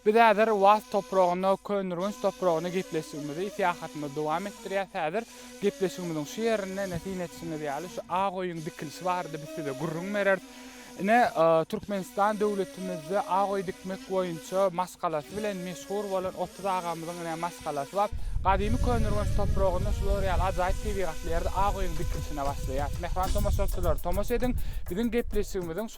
Biz häzir Waz topragynda Köneürgenç topragyna gepleşigimizi, syýahatymyzy dowam etdirýäs. Häzir gepleşigimiziň şu ýerinde, ine, syn etişiňiz ýaly, şu ak öýüň dikilişi barada biz size gürrüň bereris. Ine, Türkmenistan döwletimizde ak öý dikmek boýunça maşgalasy bilen meşhur bolan Otuz agamyzyň, ine, maşgalasy bar. Gadymy Köneürgenç topragynda şular ýaly ajaýyp tebigatly ýerde ak öýüň dikilişine başlaýar. Mähriban tomaşaçylar, tomaşa ediň, biziň gepleşigimiziň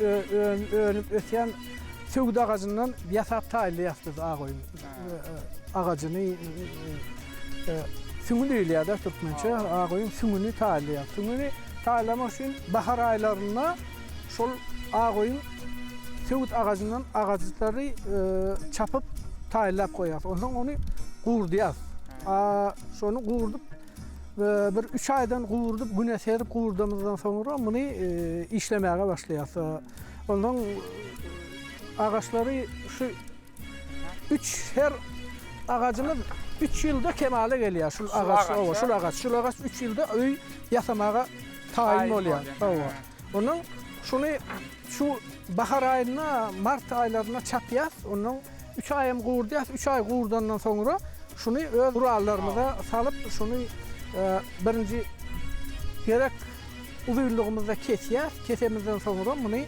Önüp ösýän söwüt agajyndan ýasap taýynlaýarys biz ak oýun agajyny. Süňňi diýilýär-de türkmençe. Ak oýun süňňüni taýynlaýarys. Süňňüni taýynlamak üçin bahar aýlarynda şol ak oýun söwüt agajyndan agajyklary çapyp taýynlap goýarys. Onsoň ony gurudýarys. Şony gurudyp Bir üç aýdan guwurdyp, güne serip guwurdamyzdan soňra muny işlemäge başlaýarys. Onsoň agaçlary şu üç her agajymyz üç ýylda kemala gelýär. Şul agaç, owa, şul agaç, şul agaç üç ýylda öý ýasamaga taýyn bolýar. Owa. Onuň şuny Şu bahar aýynda, mart aýlarynda çapýas, ondan üç aýam guwurdýas, üç aý guwurdandan soňra şuny öz gurallarymyza salyp, şuny birinji gerek uzynlygymyzda kesýäs, kesemizden soňra muny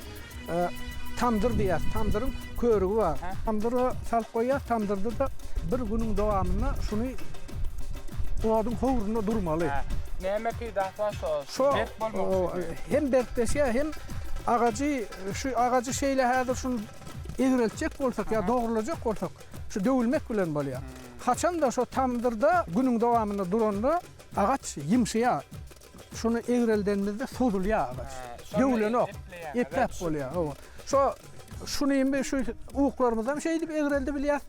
tamdyr diýýäs, tamdyryň körügi bar. Tamdyra salyp goýýas, tamdyrda-da bir günüň dowamynda şuny oduň howrunda durmaly. Näme peýdasy bar şol? Şo hem berkleşýär, hem agajy, şu agajy şeýle häzir şuny egreltjek bolsak ýa dogrulajak bolsak, şu döwülmek bilen bolýar. Haçanda şo tamdyrda günüň dowamynda duranda agaç ýymşyýar. Şuny egreldenimizde sozulýar agaç. Döwülenok. Epläp bolýar. Hawa. Şo şuny indi şu uklarymyzam şeýdip egreldi bilýär.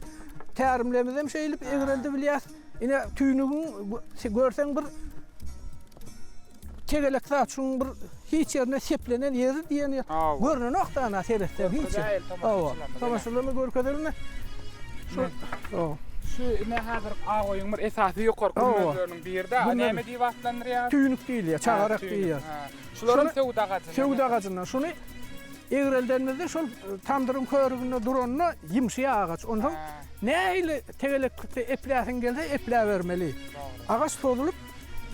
Tärimlemizem şeýdip egreldi bilýär. Ine tüýnügiň görseň bir tegelek zat şuň bir hiç ýerine seplenen ýeri diýeni görnenok da ana seretseň hiç. Hawa. Tomaşalarna görkezelme. Şu. Hawa. Şu ine häzir awaýyň bir esasy ýokary görnüşleriniň biri-de. Näme diýip atlandyrýar? Tüýnük diýilýär, çagarak diýilýär. Şularyň söwüt agajy. Söwüt agajyndan. Şuny Egreldenimizde şol tamdyryň körüginde duranda ýymşyýar agaç. Onsoň nähili tegeleklikde epläsiň gelse epläbermeli. Agaç sozulyp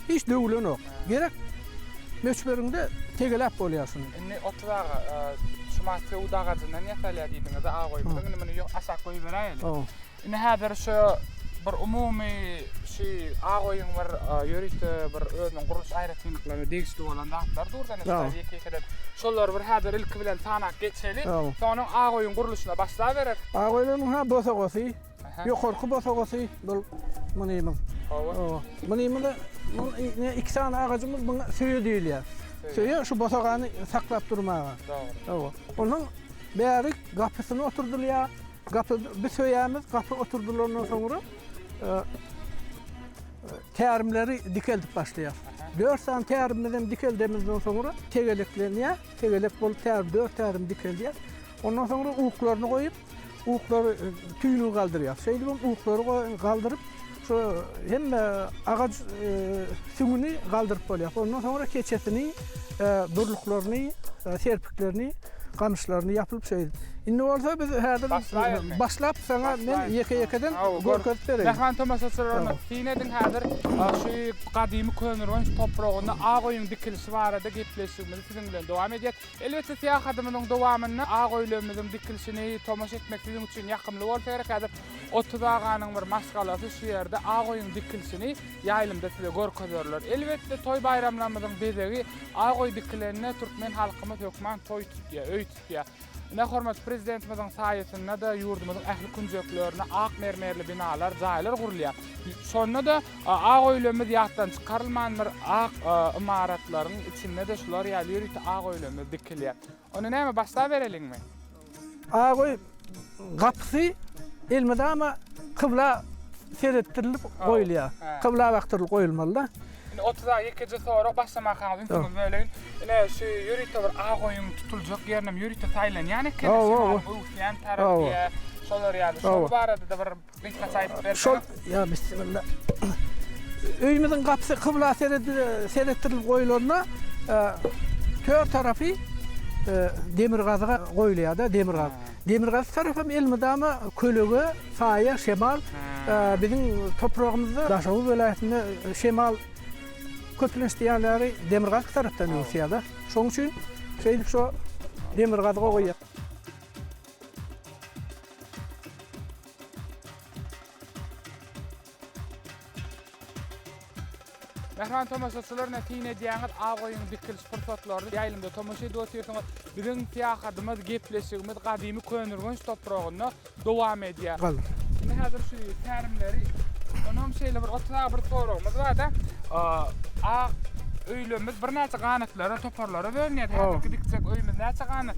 hiç döwülenok. Gerek möçberinde tegeläp bolýar şuny. Indi otuz aga şumat söwüt agajyndan ýasalýar diýdiňiz-de, agoýymyzyň. Indi muny aşak goýberäýeli. Indi häzir şu bir umumy şu Agoýuň bir ýörite bir özüniň gurluş aýratynlyklaryna degişli bolan zatlar dur da indi ýeke-ýekeden şolary bir häzir ilki bilen sanap geçeli. Soňam Agoýuň gurluşyna başlabereris. Agoýlaryň ha bosagasy, ýokarky bosagasy bul mynymyz. Hawa. Mynymyz iki sany agajymyz muňa söýe diýilýär. Söýe şu bosagany saklap durmaga. Dogry. Hawa. Onuň bärik gapysyna oturdylýar. Gapy bi söýämiz, gapy oturdylandan soňra tärimleri dikeldip başlaýar. Dört sany tärimiz hem dikeldemizden soňra tegeleklenýär. Tegelek bolup tärim, dört tärim dikeldýär. Ondan soňra uklaryny goýup, uklary tüýlügi galdyrýar. Şeýdibem uklary galdyryp, Şu hemme agaç süňňüni galdyryp bolýar. Ondan soňra keçesini, durluklaryny, serpiklerini, gamyşlaryny ýapylyp şeýdip. Indi bolsa biz häzir başlap saňa men ýeke-ýekeden görkezip bereýin. Mähriban tomaşaçylar onda syn ediň häzir şu gadymy Köneürgenç topragynda Agoýuň dikilişi barada gepleşigimizi siziň bilen dowam edýäs. Elbetde, syýahatymyzyň dowamynda ak öýlerimiziň dikilişini tomaşa etmek siziň üçin ýakymly bolsa gerek. Häzir Otuz aganyň bir maşgalasy şu ýerde ak öýüň dikilişini ýaýlymda size görkezerler. Elbetde, toý-baýramlarymyzyň bezegi ak öý dikilende türkmen halkymyz hökman toý tutýar, öý tutýar. Ine, hormatly Prezidentimiziň saýasynda-da ýurdumyzyň ähli künjeklerine ak mermerli binalar, jaýlar gurulýar. Şonda-da Ak öýlerimiz ýatdan çykarylmandyr. Ak ymaratlaryň içinde-de şular ýaly ýörite ak öýlerimiz dikilýär. Onda näme, başlabereliňmi? Ak öý gapysy elmydama kybla seretdirilip goýulýar. Kybla bakdyrylyp goýulmaly-da. Indi otuza ýekeje sorag başlamakaňyz ünsüňizi böleýin. Ine, şu ýörite bir ak öýüň tutuljak ýerinem ýörite saýlanýan ekeni. Şolar ýaly, şolar barada-da bir Şol ýa bismilla. Öýümiziň gapysy kybla seretdirilip goýulanda tör tarapy demirgazyga goýulýar-da, demirgazy. Demirgazy tarapam elmydama kölege, saýa, şemal. Biziň topragymyzda Daşoguz welaýatynda şemal köplenç diýen ýaly demirgazyk tarapdan öwüsýär-de. Şonuň üçin şeýdip şo demirgazyga goýýar. Mähriban tomaşaçylar, ine syn edýäňiz aw goýuň dikiliş pursatlaryny, ýaýlymda tomaşa edip otyrsyňyz. Biziň syýahatymyz, gepleşigimiz gadymy Köneürgenç topragynda dowam edýär. Indi häzir şu tärimleri, onam şeýle bir otaga bir soragymyz barda, ak öýlerimiz birnäçe ganatlara, toparlara bölünýär. Häzirki dikjek öýümiz näçe ganat?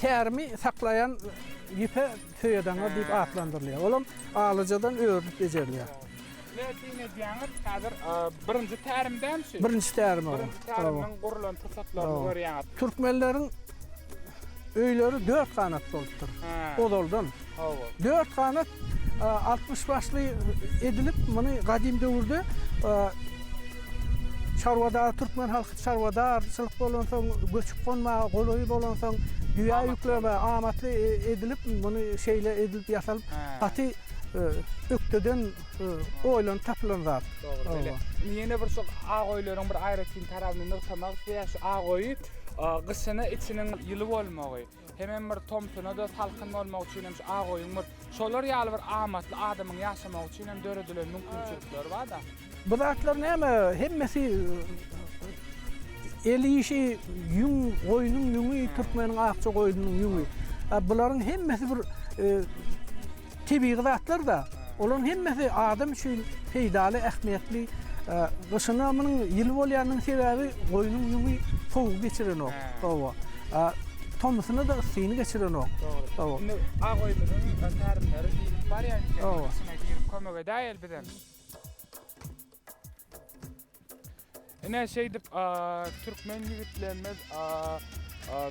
Tärimi saklaýan ýüpe söýedaňa diýip atlandyrylýar. Olam alyjadan örülip bejerilýär. Pletin edýäňiz, häzir birinji tärim däl şu. Birinji tärim ol. Birinji tärimden gurlan pursatlaryny görýäňiz. Türkmenleriň öýleri dört ganat bolupdyr ozaldan. Hawa. Dört ganat altmyş başly edilip, muny gadym döwürde çarwadar türkmen halky çarwadarçylyk bolansoň, göçüp-gonmaga golaý bolansoň, düýä ýüklemä amatly edilip, muny şeýle edilip ýasalyp, gaty ökdeden oýlanyp tapylan zat. Dogry. Ýene bir şu ak öýleriň bir aýratyn tarabyny nygtamak isleýäs. Şu ak öýi gyşyna içiniň ýyly bolmagy. Hemem bir tomsuna-da salkyn bolmak üçin hem şu agoýuň bir şolar ýaly bir amatly adamyň ýaşamagy üçin hem döredilen mümkinçilikleri bar-da. Bu zatlar näme, hemmesi el işi, ýüň, goýnuň ýüňi, türkmeniň akja goýnunyň ýüňi. Bularyň hemmesi bir Tebigy zatlar-da, olaryň hemmesi adam üçin peýdaly, ähmiýetli. Gyşyna munuň ýyly bolýanynyň sebäbi goýnuň ýüňi sowugy geçirenok. Hawa. Tomusynada yssyny geçirenok. Hawa. Indi Agoýumyzyň närimleri diýlip barýar eken. Hawa. Kömek edäýeli bizem. Ine şeýdip türkmen ýigitlerimiz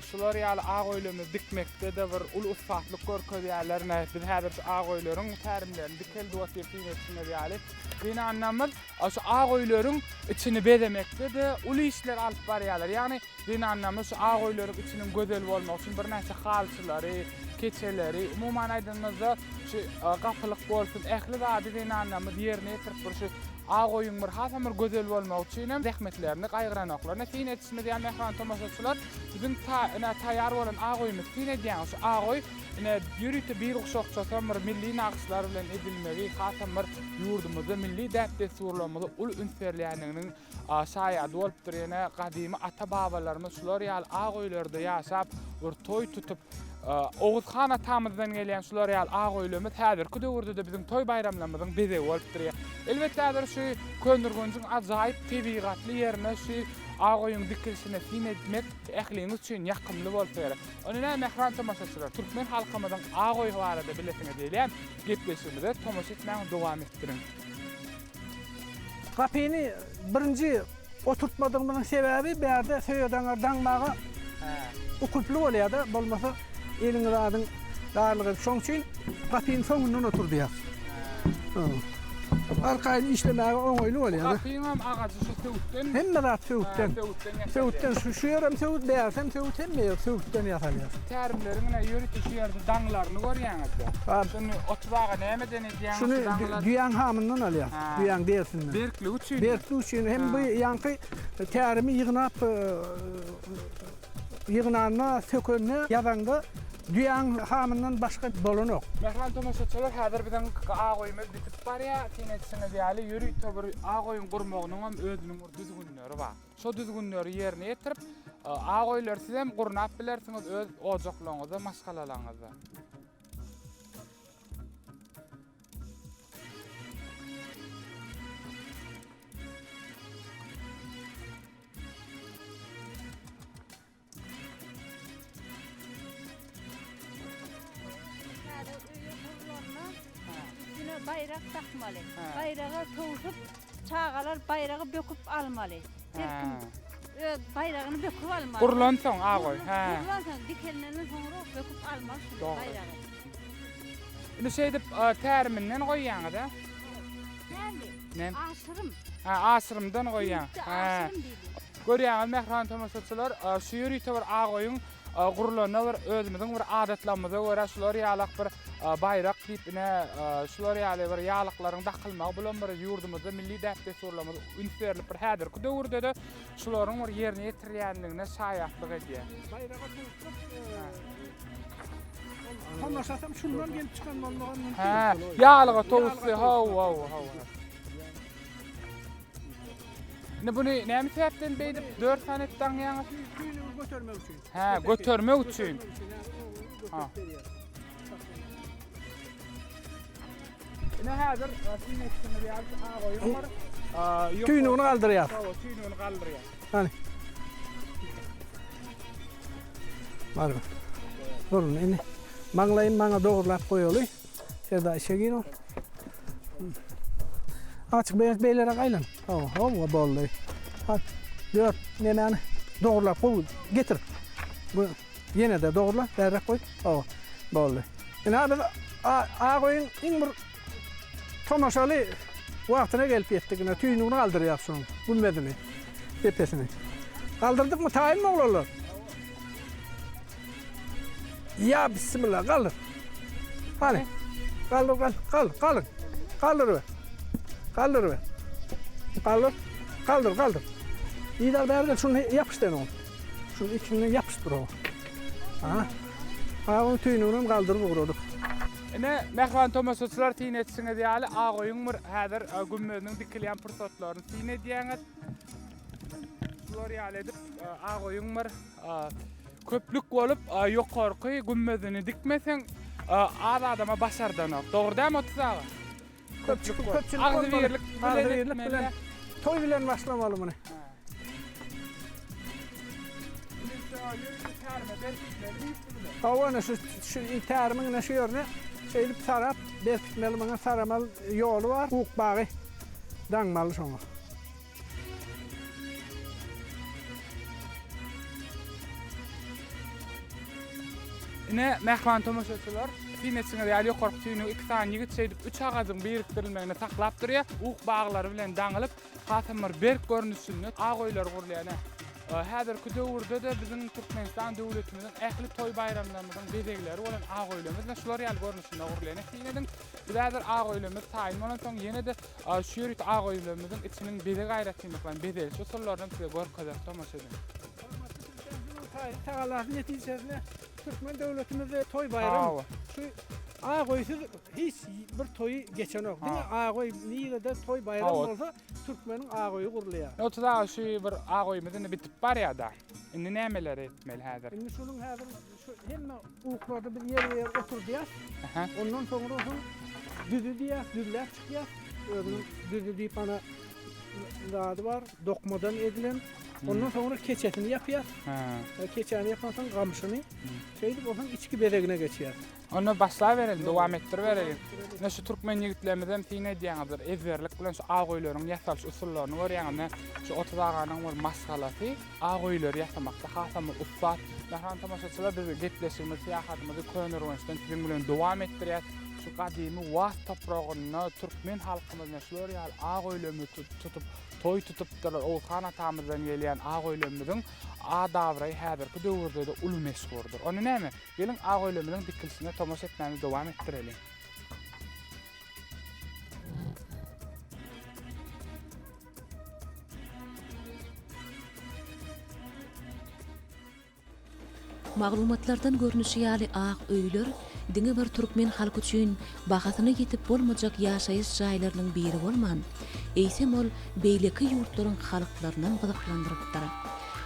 şular ýaly ak öýlerini dikmekde-de bir uly ussatlyk görkezýärler. Ine biz häzir şu ak öýleriň tärimlerini dikeldip otyrys diýmek üçin ýaly. Gynanamyz şu ak öýleriň içini bezemekde-de uly işler alyp barýarlar. Ýagny Zenanlarymyz şu ak öýleriň içiniň gözel bolmagy üçin birnäçe halçylary, keçeleri, umuman aýdanymyzda, şu gapylyk bolsun, ähli zady zenanlarymyz ýerine ýetirip, bir şu ak öýüň bir hasam bir gözel bolmagy üçinem zähmetlerini gaýgyranoklaryna syn edişimiz ýaly, mähriban tomaşaçylar, biziň ta ine taýýar bolan ak öýümiz. Syn edýäňiz, şu ak öý ine ýörite bir guşakçasam bir milli nagyşlar bilen edilmegi hasam bir ýurdumyzda milli däp-dessurlarymyza uly üns berilýändiginiň Şaýady bolupdyr ýene gadymy ata babalarymyz şular ýaly ak öýlerde ýaşap bir toý tutup Oguz han atamyzdan gelýän şular ýaly ak öýlemez häzirki döwürde de biziň toý baýramlarymyzyň bezegi bolupdyr. Elbet häzir şu Köndürgunjyň ajaýyp tebigatly ýerine şu ak öýüň dikilişine syn etmek ähliňiz üçin ýakymly bolsa gerek. Onda näme mähran tomaşaçylar türkmen halkymyzyň ak öýi barada bilesiňiz gelýän gepleşigimize tomaşa etmäni dowam etdiriň. Gapyny birinji oturtmadygymyzyň sebäbi bärde söýedaňar daňmaga ukyply bolýada, bolmasa eliňi zadyň darlygy. Şoň üçin gapyny soňundan oturdýar. Arkaýyn işlemäge oňaýly bolýada. Gapyňam agajy şu söwütdenmi? Hemme zat söwütden. Söwütden şu ýerem söwüt, bärsem söwüt hemme ýer söwütden ýasalýar. Tärimleriň ine ýörite şu ýerde daňlaryny görýäňizde. Şuny oturmaga nämeden Şuny düýäň hamyndan alýar, düýäň derisinden. Berkligi üçin. Berkligi üçin hem bu ýaňky tärimi ýygnap ýygnanda, sökende, ýazanda düýäň hamyndan başga bolanok. Mähriban tomaşaçylar, häzir biziň A goýumyz bitip barýar. Siziň etişiňiz ýaly, ýörite bir A goýuň gurmagynyň hem özüniň bir düzgünleri bar. Şo düzgünleri ýerine ýetirip, A goýulary siz hem gurnap bilersiňiz öz ojaklaryňyzda, maşgalalaryňyzda. Baýrak dakmaly. Baýraga towsup Çagalar baýragy böküp almaly. Her kim öz baýragyny böküp almaly. Gurlan soň agoý. Hä. Gurlan soň dikelmenden soňra böküp almaly baýragy. Indi şeýdip täriminden goýýaňyz a? Täli. Ne? Aşyrym. Ha, aşyrymdan goýýaň. Hä. Görýäňiz, mähriban tomaşaçylar, şu ýörite bir agoýyň gurlanda bir özümiziň bir adatlarymyza görä şular ýalak bir baýrak diýip ine şular ýaly bir ýalyklaryň dakylmagy bulam bir ýurdumyzda milli däp-dessurlarymyza üns berlip bir häzirki döwürde-de şularyň bir ýerine ýetirilýändigine şaýatlyk edýär. Baýraga Tomaşasam şundan gelip çykan bolmagy mümkin. Hä, ýalyga towusdy. Hawa, hawa, hawa. Indi bunu näme sebäpden beýdip 4 sany etdi aňýaňyz? Götermek üçin. Hä, götermek üçin. Ha. Ine hazır sizin etdiňiz ýaly ağa goýum bar. Tüýnügini galdyrýar. Hawa, tüýnügini galdyrýar. Hany. Barma. Durun indi. Maňlaýyn maňa dogrulap goýaly. Şurada işe gir o. Açık beýik beýlerek aýlan. Oho, o boldy. At, dört, nemäni dogurlap goý, getir. Bu ýene de dogurla, bärräk goý. O, boldy. Ina biz Agoýyň iň bir tomaşaly wagtyna gelip ýetdik. Ina tüýnügini galdyrýar şunuň, gümmezini, depesini. Galdyrdykmy taýynmy oglanlar? Ýa bismilla galyr. Hany. Galyr, galyr, galyr, galyr. Galyr be. Galyr be. Galyr, galyr, galyr. Ýa bäri gel şuny ýapyşdyr oňa. Şuny ikini ýapyşdyr oňa. Aha. Ha, onuň tüýnügini hem galdyryp ugradyk. Ine, mähriban tomaşaçylar syn etişiňiz ýaly, Agoýuň bir häzir e, gümmeziniň dikilýän pursatlaryny syn edýäňiz. Bular ýaly edip, e, Agoýuň bir A. Köplük bolup, ýokarky gümmezini dikmeseň, az adama başardanok. Dogry dämi, Otuz aga? Köplük köpçülik bolmaly. Agzybirlik bilen, toý bilen başlamaly muny. Hawa, ine şu şu tärimiň ine şu ýerine şeýdip sarap, berkitmeli. Muňa saramaly ýoly bar. Ukbagy daňmaly şoňa. Ine, mähriban tomaşaçylar, syn etişiňiz ýaly ýokarky tüýnügi iki sany ýigit şeýdip üç agajyň birikdirilmegini saklap durýar. Ug baglary bilen daňylyp, hasam bir berk görnüşinde ak öýler gurulýar. Ine, häzirki döwürde-de biziň Türkmenistan döwletimiziň ähli toý-baýramlarymyzyň bezegleri bolan ak öýlerimiz ine şular ýaly görnüşinde gurulýar. Ine, syn ediň, biz häzir ak öýlerimiz taýyn bolansoň, ýene-de Şu ýerik aga öýlerimiziň içiniň bezeg aýratynlyklaryny, bezelişi usullaryny hem size görkezerek, tomaşa ediň. Hormatly Prezidentimiziň taýsyz tagallasy netijesinde türkmen döwletimizde toý baýram şu aga öýsüz hiç bir toýy geçenok. Diňe aga öý nirede toý baýram bolsa türkmeniň aga öýi gurulýar. Otuz aga şu bir aga öýümiz indi bitip barýada. Indi nämeleri etmeli häzir? Indi şunuň häzir Hemme uklady, biz ýer ýer oturdýas. Ondan soňra soň düzi diýýäs, düzläp çykýas. Özüniň düzi diýip ana zady bar, dokmadan edilen. Ondan soňra keçesini ýapýas. E, keçäni ýapan soň gamşyny. Şeýdip ondan içki bezegine geçýär. Onda başla berelim, dowam etdir berelim. Ne şu türkmen ýigitlerimiz hem syn edýänizdir. Ezberlik bilen şu aw goýlaryň ýasalyş usullaryny görýäňiz. Şu 30 aganyň bir maşgalasy. Ak öýleri ýasamakda hasamyz ussat. Mähriban tomaşaçylar biz gepleşigimizi, syýahatymyzy Köneürgençden siziň bilen dowam etdirýäs. Şu gadymy Waz topragynda türkmen halkymyz ine şular ýaly ak öýlerimizi tut tutup, toý tutupdyrlar. Oguzhan atamyzdan gelýän ak öýlerimiziň ad-abraýy häzirki döwürde-de uly meşhurdyr. Onda näme, geliň ak öýlerimiziň dikilişine tomaşa etmämizi dowam etdireliň. Maglumatlardan görnüşi ýaly, ak öýler diňe bir türkmen halky üçin bahasyna ýetip bolmajak ýaşaýyş jaýlarynyň biri bolman, eýsem ol beýleki ýurtlaryň halklarynam gyzyklandyrypdyr.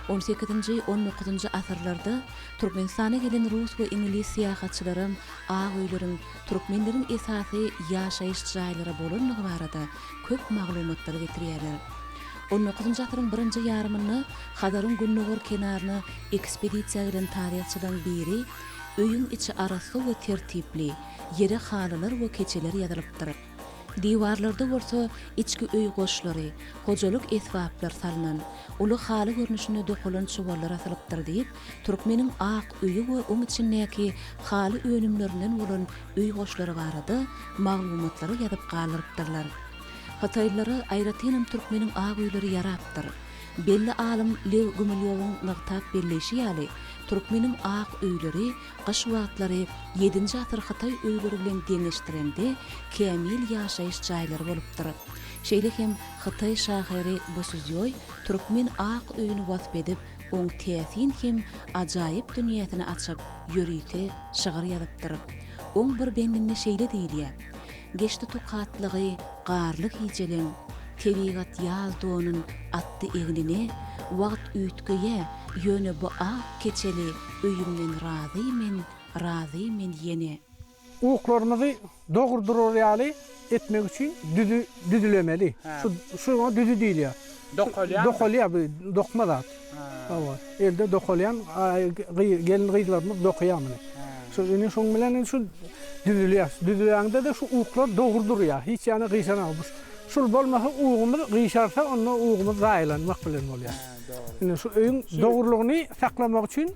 On sekizinji, on dokuzynjy asyrlarda Türkmenistana gelen rus we iňlis syýahatçylaram ak öýleriň türkmenleriň esasy ýaşaýyş jaýlary bolandygy barada köp maglumatlary getirýärler. On dokuzynjy asyryň birinji ýarymynda Hazaryň gündogar kenaryna ekspedisiýa giden taryhçylaryň biri Öýüň içi arassa we tertipli, ýere halylar we keçeler ýazylypdyr. Diwarlarda bolsa içki öý goşlary, hojalyk esbaplar salnan, uly haly görnüşinde dokalan çuwallar asylypdyr diýip, Türkmeniň ak öýi we oň içindäki haly önümlerinden bolan öý goşlary barada maglumatlary ýazyp galdyrypdyrlar. Hytaýlylara aýratynam türkmeniň ak öýleri ýarapdyr. Belli alym Lew Gumilýowyň nygtap belleýşi ýaly, türkmeniň ak öýleri gyş wagtlary ýedinji asyr hytaý öýleri bilen deňeşdirende kämil ýaşaýyş jaýlary bolupdyr. Şeýle hem hytaý şahyry Bo Suzýoý türkmen ak öýüni wasp edip, oň täsin hem ajaýyp dünýäsini açyp, ýörite şygyr ýazypdyr. Oň bir bendinde şeýle diýilýär, Geçdi tokatlygy garly gijeleň, Tebigat ýaz donun atdy egnine, Wagt üýtgeýä, ýöne bu ak keçeli Öýümden razy men, razy men ýene. Uklarymyzy dogry durar ýaly etmek üçin düzi düzülemeli. Şu şuňa düzi diýilýär. Dokalýanmy? Dokalýar bu dokma zat. Hawa, elde dokalýan gelin-gyzlarymyz dokaýar muny. Şu indi şuň bilen şu düzülýär. Düzülende-de şu uklar dogry durýar. Hiç ýana gyşanok. Şul bolmasa ugumyz gyşarsa onda ugumyz zaýalanmak bilen bolýar. Indi şu öýüň dogrulygyny saklamak üçin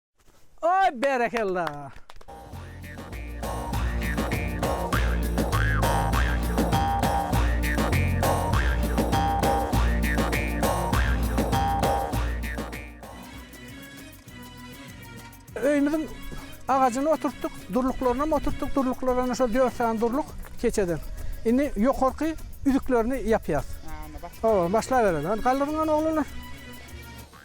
Oý berekella. Öýümiziň agajyny oturtdyk, durluklarynam oturtdyk, durluklaryna şol dört sany durluk keçeden. Indi ýokarky üzüklerini ýapýas. Hawa, başlabereli. Hany galdyryň hany oglanlar.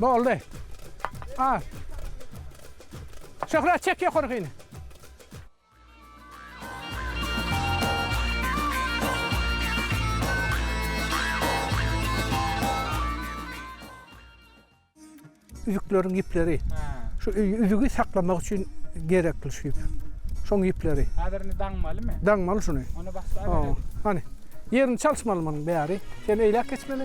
Boldy. A. Şöhrat çek ýokarkyny. Üzükleriň ýüpleri. Şu üzügi saklamak üçin gerekli şu ýüp. Şoň ýüpleri. Häzir indi daňmalymy? Daňmaly şuny. Ony başda. Hany. Ýerini çalyşmaly munuň bäri. Sen eýläk geçmeli.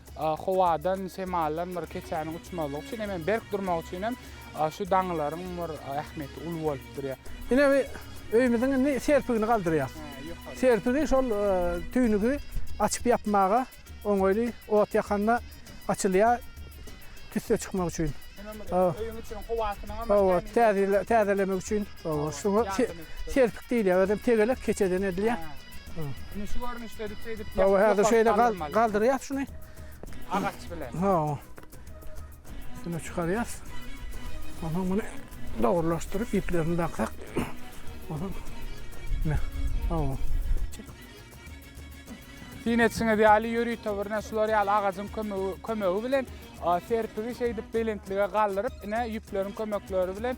Howadan, şemaldan bir keçäniň uçmazlygy üçin hem, berk durmagy üçin hem şu daňylaryň bir ähmiýeti uly bolup durýar. Ine bu öýümiziň indi serpigini galdyrýas. Serpigi şol tüýnügi açyp-ýapmaga oňaýly, ot ýakanda açylýar tüsse çykmak üçin. Öýüň içiniň howasynyňam täzelemek üçin. Oba şuňa serpik diýilýär, özem tegelek keçeden edilýär. Indi şu görnüşde diýip, oba häzir şeýle galdyrýas şuny. Agaç bilen. Ha. Şunu çykarýas. Ondan bunu dogrulaşdyryp iplerini daksak. Ondan ne? Oba. Diýen etişiňiz ýaly ýörite birine şular ýaly agajyň kömegi, kömegi bilen serpigi şeýdip belentlige galdyryp, ine ýüpleriň kömekleri bilen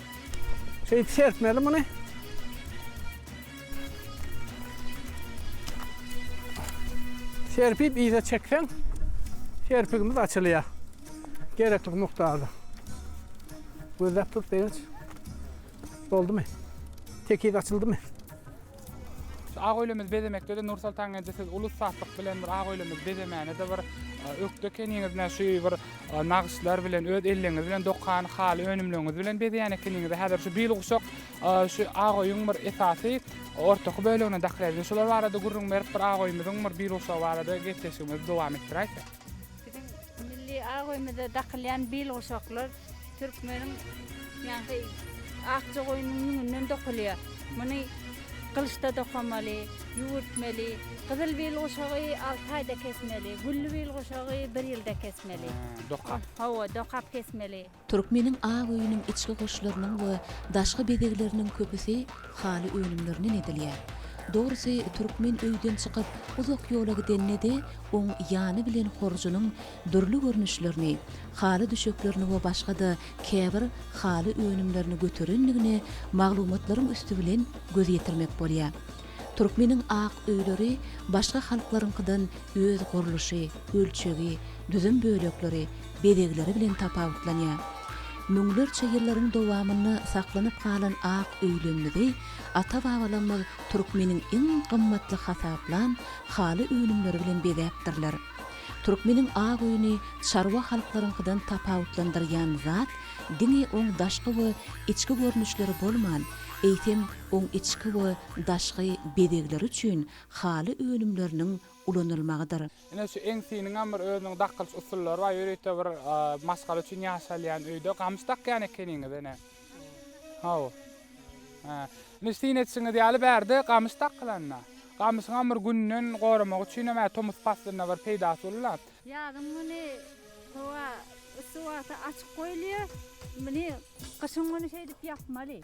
Şeýdip serpmeli muny. Serpip yza çekseň, serpigimiz açylýar. Gerekli mukdarda. Gözläp dur, begenç. Boldumy? Tekiz açyldymy? Ak öýlerimizi bezemekde-de Nursoltan eje siz uly ussatlyk bilen bir ak öýlerimizi bezemäne-de bir ökde ekeniňiz, ine şu bir nagyşlar bilen, öz elleriňiz bilen dokan haly önümleriňiz bilen bezeýän ekeniňiz. Häzir şu bil guşak şu ak öýüň bir esasy ortaky bölegine dakylýar. Şular barada gürrüň berip, bir ak öýümiziň bir bil guşagy barada gepleşigimizi dowam etdiräýsek. Biziň milli abraýymyza dakylýan bil guşaklar türkmeniň ýaňky akja goýnunyň ýüňünden dokulýar. Muny gylyçda dokamaly, ýüwürtmeli. Gyzyl bil guşagy alty aýda kesmeli, gülli bil guşagy bir ýylda kesmeli. Dokap. Hawa, dokap kesmeli. Türkmeniň ak öýüniň içki goşlarynyň we daşky bezegleriniň köpüsi haly önümlerinden edilýär. Dogrusy, türkmen öýden çykyp, uzak ýola gidende-de, oň ýany bilen horjunyň dürli görnüşlerini, haly düşeklerini we başga-da käbir haly önümlerini göterendigine maglumatlaryň üsti bilen göz ýetirmek bolýar. Türkmeniň ak öýleri başga halklaryňkydan öz gurluşy, ölçegi, düzüm bölekleri, bezegleri bilen tapawutlanýar. Müňlerçe ýyllaryň dowamynda saklanyp galan ak öýlerimizi ata-babalarymyz türkmeniň iň gymmatly hasaplan haly önümleri bilen bezäpdirler. Türkmeniň ak öýüni çarwa halklaryňkydan tapawutlandyrýan zat diňe oň daşky we içki görnüşleri bolman, eýsem, oň içki we daşky bezegleri üçin haly önümleriniň ulanylmagydyr. Ine şu eňsiniňem bir özüniň dakylyş usullary bar, ýörite bir maşgala üçin ýaşalýan öýde gamyş dakýan ekeniňiz ene. Haw. Hä. Indi syn etişiňiz ýaly bärde gamyş dakylanda, gamyşyňam bir günden goramak üçinem hä tomus paslynda bir peýdasy bolula. Ýazyň güni howa yssy wagty açyk goýulýar. Muny gyşyň güni şeýdip ýapmaly.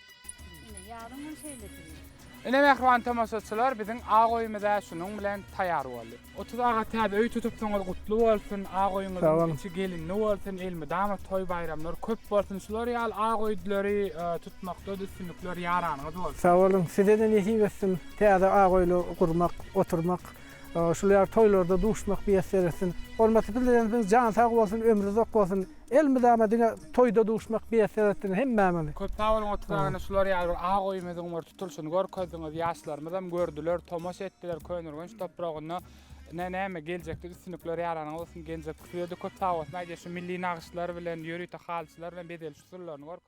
Ine mähriban tomaşaçylar biziň ak öýümiz-ä şunuň bilen taýýar boldy. Otuz aga täze öý tutupsyňyz gutly bolsun, ak öýüňiziň içi gelinli bolsun, elmydama toý baýramlar köp bolsun, şular ýaly ak öýdüleri tutmakda-da üstünlikler ýaranyňyz bolsun. Sag boluň, size-de nesip etsin täze ak öýler gurmak, oturmak, şul ýaly toýlarda duşmak miýesser etsin. Hormatly Prezidentimiz jany sag bolsun, ömri uzak bolsun. Elimiz ama diňe toýda duşmak miýesser etdiňiz hemmämizi. Köp sag boluň Otuz agany şular ýaly bir agy goýumyzyň bir tutulşyny görkezdiňiz ýaşlarymyzam gördüler tomaşa etdiler Köneürgenç topragynda ne näme geljekde üstünlikler ýaranyň bolsun geljek size-de köp sag bolsun aýdýa şu milli nagyşlar bilen ýörite halyçylar bilen bezeliş usullaryny görkezdiňiz.